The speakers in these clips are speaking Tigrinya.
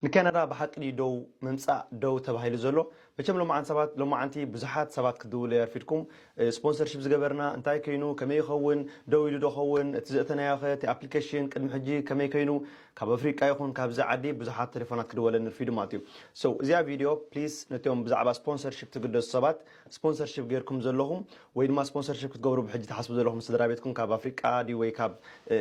ንካናዳ ብሓቂ ድዩ ደው ምምጻእ ደው ተባሂሉ ዘሎ መቸም ሎማዓንቲ ሰባት ሎማዓንቲ ብዙሓት ሰባት ክትድውሉ የርፊድኩም ስፖንሰርሺፕ ዝገበርና እንታይ ከይኑ ከመይ ይኸውን ደው ኢሉ ዶ ኸውን እቲ ዘእተናዮኸ እቲ ኣፕሊከሽን ቅድሚ ሕጂ ከመይ ከይኑ ካብ ኣፍሪቃ ይኹን ካብዚ ዓዲ ብዙሓት ተሌፎናት ክድወለኒ ርፊዱ ማለት እዩ so እዚኣ ቪድዮ please ነቶም ብዛዕባ ስፖንሰርሺፕ ትግደሱ ሰባት ስፖንሰርሺፕ ጌርኩም ዘለኹም ወይ ድማ ስፖንሰርሺፕ ክትገብሩ ብሕጂ ትሓስቡ ዘለኹም ስድራቤትኩም ካብ ኣፍሪቃ ድዩ ወይ ካብ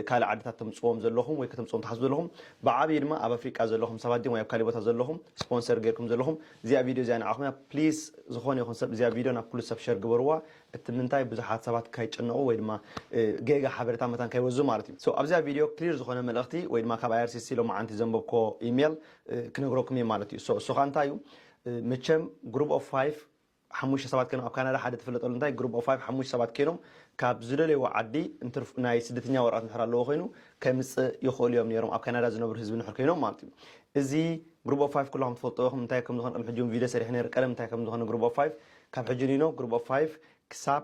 ካልእ ዓድታት ተምጽዎም ዘለኹም ወይ ከተምጽዎም ትሓስቡ ዘለኹም ብዓብዩ ድማ ኣብ ኣፍሪቃ ዘለኹም ሰባት ድዮም ወይ ኣብ ካሊእ ቦታ ዘለኹም ስፖንሰር ጌርኩም ዘለኹም እዚኣ ቪድዮ እዚኣ ንዓኹም እያ ፕሊስ ዝኾነ ይኹን ሰብ እዚኣ ቪድዮ ናብ ኩሉ ሰብ ሸር ግበርዋ እቲ ምንታይ ብዙሓት ሰባት ካይጭነቑ ወይ ድማ ጌጋ ሓበሬታ መታን ካይወዙ ማለት እዩ so ኣብዚኣ ቪድዮ ክሊር ዝኾነ መልእኽቲ ወይ ድማ ካብ IRCC ሎማዓንቲ ዘንበብኩዎ ኢሜል ክነግረኩም እየ ማለት እዩ so እሱ ከኣ እንታይ እዩ መቸም ግሩብ ኦፍ ፋይፍ ሓሙሽተ ሰባት ኬኖም ኣብ ካናዳ ሓደ ትፍለጠሉ እንታይ ግሩብ ኦፍ ፋይፍ ሓሙሽተ ሰባት ኬኖም ካብ ዝደለይዎ ዓዲ እንትርፍ ናይ ስደተኛ ወረቀት እንድሕር ኣለዎ ኮይኑ ከምጽእ ይኽእሉ እዮም ኔሮም ኣብ ካናዳ ዝነብሩ ህዝቢ እንድሕር ኬኖም ማለት እዩ እዚ ግሩብ ኦፍ ፋይፍ ኩላኹም ትፈልጥዎ ኢኹም እንታይ ከም ዝኾነ ቅድሚ ሕጂ ውን ቪድዮ ሰሪሐ ኔረ ቀደም እንታይ ከም ዝኾነ ግሩብ ኦፍ ፋይፍ ካብ ሕጂ ንይኖ ግሩብ ኦፍ ፋይፍ ክሳብ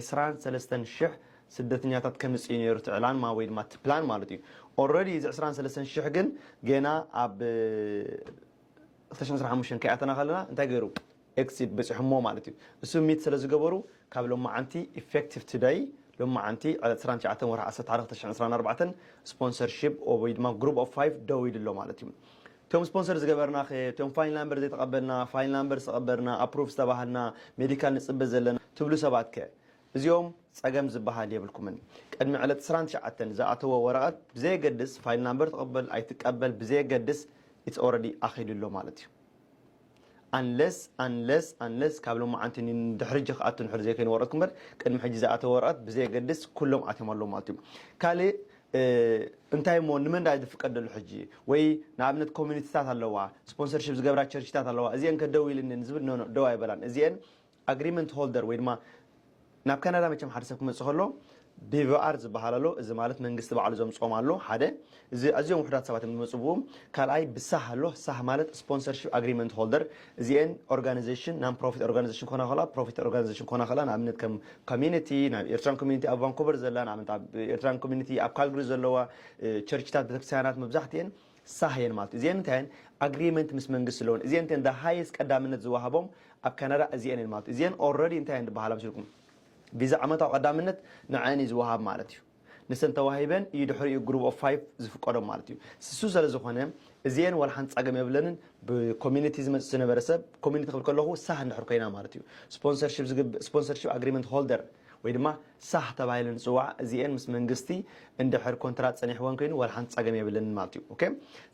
ዕስራን ሰለስተን ሽሕ ስደተኛታት ከምጽእዩ ነይሩ እቲ ዕላንማ ወይ ድማ እቲ ፕላን ማለት እዩ። ኦረዲ እዚ ዕስራን ሰለስተን ሽሕ ግን ገና ኣብ ክልተ ሽሕን ዕስራን ሓሙሽተን ከይኣተና ከለና እንታይ ገይሩ ኤክሲድ በጺሖሞ ማለት እዩ። እሱ ሚት ስለ ዝገበሩ ካብ ሎማዓንቲ ኢፌክቲቭ ቱደይ ሎማዓንቲ ዕስራን ትሽዓተን ወርሒ ዓሰርተ ሓደ ክልተ ሽሕን ዕስራን ኣርባዕተን ስፖንሰርሺፕ ወይ ድማ ግሩፕ ኦፍ ፋይቭ ደው ኢሉ ኣሎ ማለት እዩ። እቶም ስፖንሰር ዝገበርናኸ እቶም ፋይል ናምበር ዘይተቐበልና ፋይል ናምበር ዝተቐበርና ኣፕሩቭ ዝተባሃልና ሜዲካል ንፅበ ዘለና ትብሉ ሰባትከ እዚኦም ፀገም ዝበሃል የብልኩምን ቅድሚ ዕለት ዕስራን ትሽዓተን ዝኣተዎ ወረቐት ብዘየገድስ ፋይል ናምበር ትቕበል ኣይትቀበል ብዘየገድስ ኢትስ ኦረዲ ኣኺሉ ኣሎ ማለት እዩ Unless Unless Unless ካብ ሎማዓንቲ ንድሕሪጂ ክኣቱ እንድሕር ዘይኮይኑ ወረቀትኩም እምበር ቅድሚ ሕጂ ዝኣተወ ወረቀት ብዘየገድስ ኩሎም ኣትዮም ኣለዉ ማለት እዩ ካልእ እንታይ እሞ ንመን ድኣ ዝፍቀድ ደሎ ሕጂ ወይ ንኣብነት ኮሚኒቲታት ኣለዋ ስፖንሰርሺፕ ዝገብራ ቸርችታት ኣለዋ እዚኤን ከ ደው ኢልንን ዝብል ኖኖ ደው ኣይበላን እዚኤን ኣግሪመንት ሆልደር ወይ ድማ ናብ ካናዳ መቸም ሓደ ሰብ ክመጽእ ከሎ ቢቪኣር ዝበሃል ኣሎ እዚ ማለት መንግስቲ ባዕሉ ዘምጽኦም ኣሎ ሓደ እዚ ኣዝዮም ውሕዳት ሰባት እዮም ዝመጹ ብኡ ካልኣይ ብሳህ ኣሎ ሳህ ማለት ስፖንሰርሺፕ ኣግሪመንት ሆልደር እዚኤን ኦርጋናይዜሽን ናን ፕሮፊት ኦርጋናይዜሽን ኮና ከላ ፕሮፊት ኦርጋናይዜሽን ኮና ከላ ንኣብነት ከም ኮሚኒቲ ናብ ኤርትራን ኮሚኒቲ ኣብ ቫንኮቨር ዘላ ንኣብነት ኣብ ኤርትራን ኮሚኒቲ ኣብ ካልግሪ ዘለዋ ቸርችታት ቤተክርስትያናት መብዛሕትኤን ሳህ እየን ማለት እዩ። እዚኤን እንታይ እየን? ኣግሪመንት ምስ መንግስቲ ኣለወን። እዚኤን እተን the highest ቀዳምነት ዝወሃቦም ኣብ ካናዳ እዚኤን እየን ማለት እዩ። እዚኤን already እንታይ እየን ዝበሃላ መሲልኩም? ቪዛ ዓመታዊ ቀዳምነት ንዐኣን እዩ ዝወሃብ ማለት እዩ። ንሰን ተዋሂበን እዩ ድሕሪኡ group of five ዝፍቀዶም ማለት እዩ። ስሱ ሰለዝኾነ እዚኤን ዋላ ሓንቲ ጻገም የብለንን። ብ community ዝመጽእ ዝነበረ ሰብ community ክብል ከለኹ ሳህ እንድሕር ኮይና ማለት እዩ። ስፖንሰርሺፕ ዝግብ ስፖንሰርሺፕ ኣግሪመንት ሆልደር ወይ ድማ ሳህ ተባሂለን ዝፅዋዓ እዚኤን ምስ መንግስቲ እንድሕር ኮንትራት ፀኒሕወን ኮይኑ ዋላ ሓንቲ ፀገም የብለንን ማለት እዩ ኦኬ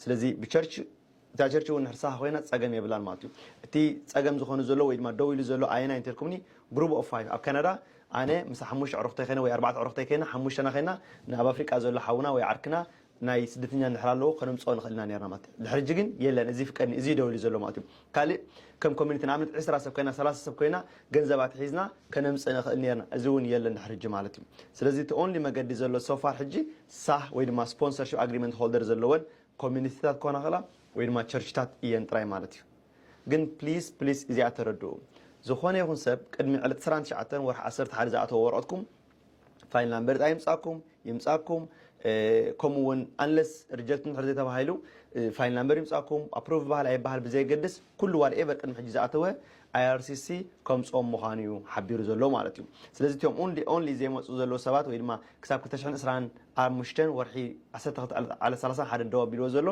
ስለዚ ብቸርች እታ ቸርች እውን ንሕር ሳህ ኮይና ፀገም የብላን ማለት እዩ እቲ ፀገም ዝኾኑ ዘሎ ወይ ድማ ደው ኢሉ ዘሎ ኣየናይ እንተልኩምኒ ግሩብ ኦፍ ፋይቭ ኣብ ካናዳ ኣነ ምስ ሓሙሽተ ዕሩኽተይ ኮይነ ወይ ኣርባዕተ ዕሩኽተይ ኮይና ሓሙሽተና ኮይና ንኣብ ኣፍሪቃ ዘሎ ሓውና ወይ ዓርክና ናይ ስደተኛ እንድሕር ኣለዎ ከነምጽኦ ንኽእል ኢና ኔርና ማለት እዩ። ድሕሪ ሕጂ ግን የለን እዚ ይፍቀድኒ እዚ ደው ኢሉ ዘሎ ማለት እዩ። ካልእ ከም ኮሚኒቲ ንኣብነት ዕስራ ሰብ ኮይና ሰላሳ ሰብ ኮይና ገንዘብ ኣትሒዝና ከነምጽእ ንኽእል ኔርና እዚ ውን የለን ድሕሪ ሕጂ ማለት እዩ። ስለዚ እቲ ኦንሊ መገዲ ዘሎ so far ሕጂ ሳህ ወይ ድማ ስፖንሰርሺፕ ኣግሪመንት ሆልደር ዘለወን ኮሚኒቲታት ክኾና ይኽእላ ወይ ድማ ቸርችታት እየን ጥራይ ማለት እዩ። ግን please please እዚኣ ተረድኡ ዝኾነ ይኹን ሰብ ቅድሚ ዕለት ዕስራን ትሽዓተን ወርሒ ዓሰርተ ሓደ ዝኣተዎ ወረቐትኩም ፋይል ናምበር ኣይምፃኩም ይምፃኩም ከምኡ እውን ኣንለስ ሪጀክት እንድሕር ዘይተባሂሉ ፋይል ናምበር ይምፃኩም ኣፕሮቭ ይበሃል ኣይበሃል ብዘየገድስ ኩሉ ዋት ኤቨር ቅድሚ ሕጂ ዝኣተወ ኣይኣርሲሲ ከምፅኦም ምዃኑ እዩ ሓቢሩ ዘሎ ማለት እዩ ስለዚ እቶም ኦንሊ ዘይመፁ ዘለዉ ሰባት ወይ ድማ ክሳብ 225 ወርሒ 1231 ደው ኣቢልዎ ዘሎ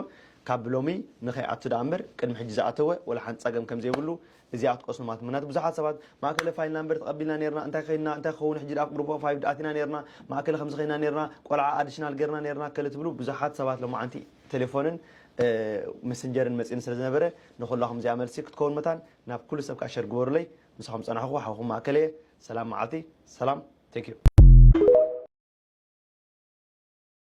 ካብ ብሎሚ ንከይኣቱ ደኣ እምበር ቅድሚ ሕጂ ዝኣተወ ወላ ሓንቲ ፀገም ከም ዘይብሉ እዚ ኣትቀስኑ ማት ምናት ብዙሓት ሰባት ማእከለ ፋይል ናምበር ተቀቢልና ኔርና እንታይ ከይንና እንታይ ክከውን ሕጂ ድኣ ግሩፕ ኦፍ ፋይቭ ኣቲና ኔርና ማእከለ ከምዚ ከይና ኔርና ቆልዓ ኣድሽናል ጌርና ኔርና ከለ ትብሉ ብዙሓት ሰባት ሎማዓንቲ ቴሌፎንን መሰንጀርን መጺኒ ስለ ዝነበረ ንኩላኩም እዚኣ መልሲ ክትከውን መታን ናብ ኩሉ ሰብ ከኣ ሸር ግበሩለይ ምሳኩም ጸናሕኩ ሓውኩም ማእከለ እየ ሰላም ማዓልቲ ሰላም Thank you።